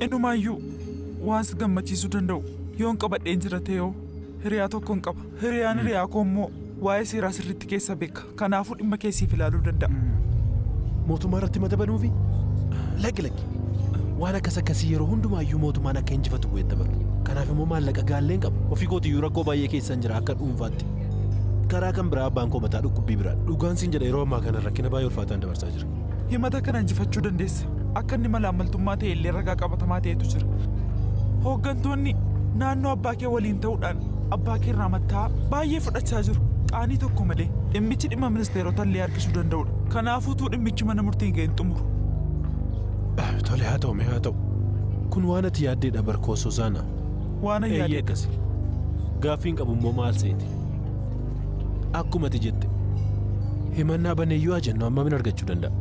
Inumaayyuu waan si gammachiisuu danda'u yoon qabadheen jira ta'eoo hiriyaa tokkon qaba. Hiriyaan hiriyaa koo immoo waa'ee seeraa sirriitti keessa beeka. Kanaafuu dhimma kee siif ilaaluu danda'a. Mootummaa irratti mata banuufi? Lakki lakki. Waan akkas akkasii yeroo hundumaayyuu mootummaan akka injifatu godhee taphatu. Kanaaf immoo maallaqa gaalleen qaba. Ofii kootiyyuu rakkoo baay'ee keessan jira akka dhuunfaatti. Karaa kan biraa abbaan koo mataa dhukkubbii biraadha. Dhugaan siin jedha yeroo ammaa kana rakkina baay'ee ulfaataan dabarsaa jira. Himata kana injifachuu dandeessa. akka inni malaammaltummaa ta'e illee ragaa qabatamaa ta'etu jira. Hooggantoonni naannoo abbaa kee waliin ta'uudhaan abbaa kee irraa matta'aa baay'ee fudhachaa jiru. Qaanii tokko malee dhimmichi dhimma ministeerota illee harkisuu danda'udha. Kanaafuu utuu dhimmichi mana murtiin ga'e hin xumuru. Tole haa ta'u mee haa ta'u. Kun waan ati yaaddeedha barkoo Suuzaana. Waan an Eeyyee yaadee akkasi. Gaaffiin qabu immoo maal seete? Akkuma ati jette himannaa baneeyyuu haa jennu amma min argachuu danda'a.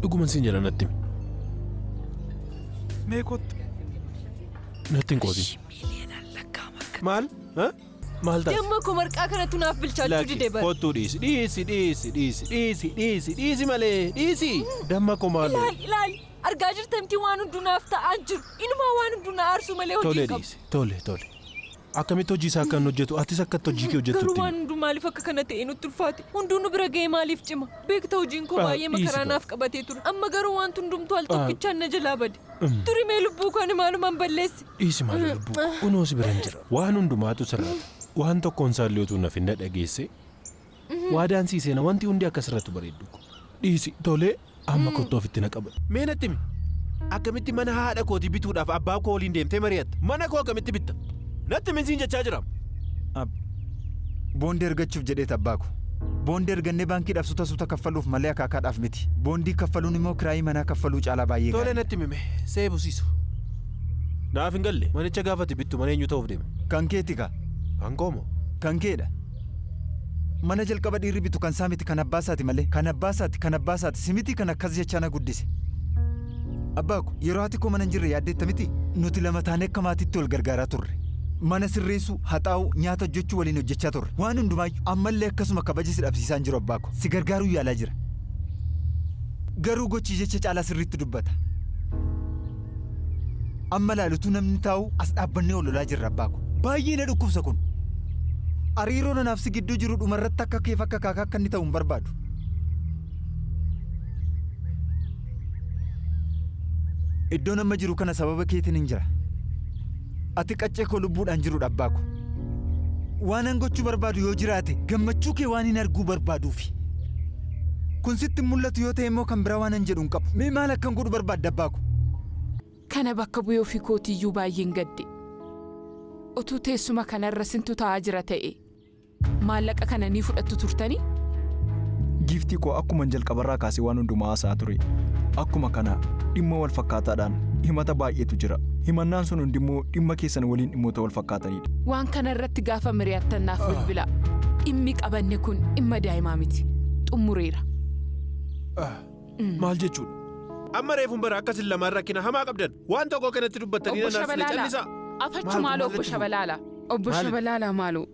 Dhuguman siin jedha natti himi. Mee kottu. Natti hin qoosin. Maal? Ha? Maal taate? Damma koo marqaa kanattu naaf bilchaachuu Lakki, dide bara. kottuu dhiisi. Dhiisi, dhiisi, dhiisi, dhiisi, dhiisi, dhiisi malee. Dhiisi. Damma koo maal? Ilaali ilaali argaa jirtamti waan hunduu naaf ta'aa jiru. Inumaa waan hunduu na aarsuu malee hojii Tole hin qabu. dhiisi. Tole, tole. Akkamitti hojii isaa akka inni hojjetu, atis akka itti hojii kee hojjettu Garuu itti waan himi. hunduu maaliif akka kana ta'e nutti ulfaate? Hunduu nu bira ga'ee maaliif cima? Beekta hojiin koo Ah, baay'ee dhiisi makaraa gaa. naaf qabatee ture. Amma garuu wanti hundumtuu al Ah. tokkichaan na jalaa bade. Mm. Turi mee lubbuu koo ani maaluman balleesse? Dhiisi maali lubbuu koo, kunoo si biran jira. Waan hundumaatu sirraata. Waan tokkoon isaallee utuu naf hin dhadhageessee. Waadaan sii seena wanti hundi akka sirratu bareedduu ko. Dhiisi tolee amma kottu ofitti na qabadhu. Mee natti himi. Akkamitti mana haadha kootii bituudhaaf abbaa koo waliin deemtee mari'atta? Mana koo akkamitti bitta? Natti himin siin jechaa jiraam. Ab. Boondii argachuuf jedheeti abbaa ko. Boondii argannee baankiidhaaf suta suuta kaffaluuf malee akaakaadhaaf miti. Boondii kaffaluun immoo kiraayii manaa kaffaluu caalaa baay'ee Tole gaariidha. natti himi mee. See busiisu. Naaf hin galle manicha gaafa ati bittu mana eenyuu ta'uuf deema? Kan keeti kaa. Kan koo moo? Kan keedha. Mana jalqaba dhiirri bitu kan isaa miti kan abbaa isaati malee. Kan abbaa isaati kan abbaa isaati si miti kan akkas jechaa na guddise. Abbaa ko yeroo haati koo mana hin jirre yaaddeetta miti nuti lama taanee akka maatiitti wal gargaaraa turre. Mana sirreessuu, haxaa'uu, nyaata hojjechuu waliin hojjechaa turre. Waan hundumaayyu ammallee akkasuma kabaja si dhabsiisaa hin jiru abbaa ko. Si gargaaruu yaalaa jira. Garuu gochi jecha caalaa sirriitti dubbata. Amma ilaalutuu namni taa'u as dhaabbannee ol lolaa jirra abbaa ko. Baay'ee na dhukkubsa kun. Ariiroo nanaaf si gidduu jiru dhumarratti akka keef akka kaakaa akka inni ta'u hin barbaadu. Iddoon amma jiru kana sababa keetiin hin jira. Ati qaccee koo lubbuudhaan jirudha abbaa ko. Waanan gochuu barbaadu yoo jiraate gammachuu kee waan hin arguu barbaaduufi. Kun sitti hin mul'atu yoo ta'e immoo kan biraa waanan jedhu hin qabu. Mee maal akkan godhu barbaadda abbaa ko? Kana bakka bu'ee ofii kootii iyyuu baay'een gadde. Otuu teessuma kana irra sintu taa'aa jira ta'ee maallaqa kana ni fudhattu turtanii? Giiftii koo akkuman jalqabarraa kaasee waan hundumaa haasa'aa ture. Akkuma kana dhimma wal fakkaataadhaan himata baay'eetu jira. Himannaan sun hundimmoo dhimma keessan waliin dhimmoota wal fakkaataniidha. Waan kana irratti gaafa mari'attan naaf bilbilaa. Dhimmi qabanne kun dhimma daa'imaa miti. Xumureera. Maal jechuudha? Amma reefun bara akka sin lamaan rakkina hamaa qabdan waan tokko kanatti dubbattanii Obbo nanaaf Shabalaala. callisaa. Afachu maaloo obbo Shabalaala. Obbo Maali? Shabalaala maaloo.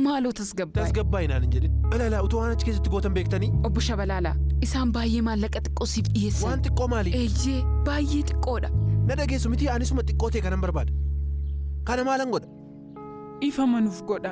Maaloo tasgabbaa'e. Tasgabbaa'e naan hin jedhin. Balaalaa utuu waan achi keessatti gootan beektanii. Obbo Shabalaala. Isaan baay'ee maallaqa xiqqoo siif dhiyeessan. Waan xiqqoo maali? Eeyyee baay'ee xiqqoodha. Na dhageessu miti anisuma xiqqoo ta'e kanan barbaada. Kana maalan godha? Dhiifama nuf godha.